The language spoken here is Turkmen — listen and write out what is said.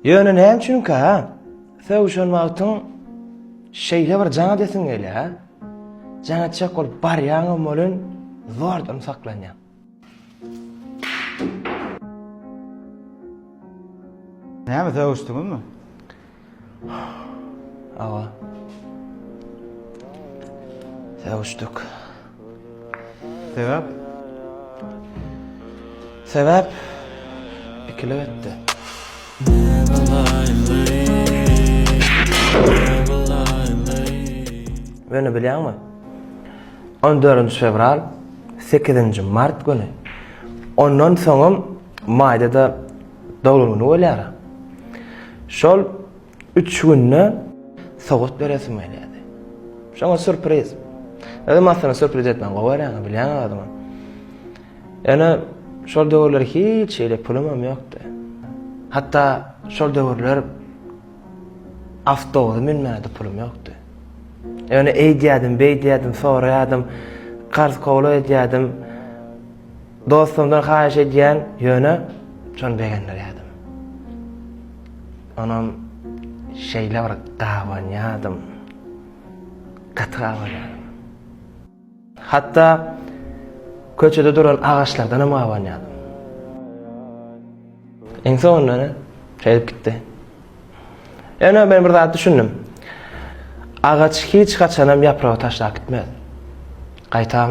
Ýöne näme üçinkä sögüşen wagtyň şeýle bir jaň edesiň gelýär, jaň etjek bolup barýaňam welin zordan saklanýaň. Näme sögüşdiňizmi? Aga. Sevişdik. Sebäp? Sebäp? Ikilik etdi. Göni bilýäňmi? 14 fewral, 8 mart güni. Ondan soňam maýda-da Doglan güni bolýar. Şol üç günde sowgat beresim gelýärdi. Şoňa sürpriz. Özüm aslynda sürpriz etmän gowy göräňi bilýäňiz adymy. Ýöne şol döwürler hiç şeýle pulum hem ýokdy. Hatda şol döwürler awtobusa münmäge pulum ýokdy. Ýöne eýdýärdim, beýdýärdim, soraýardym, karz kowla edýärdim. Dostumdan haýyş edýän, ýöne şony begendirýärdim. Onam şeýle bir gabanýardym. Gaty gabanýardym. Hatda köçede duran agaçlardan hem gabanýardym. Iň soňunda ene şeýdip gitdi. Ene men bir zat düşündim. Agaç hiç haçanam ýapragy taşlap gitmez. Gaýtam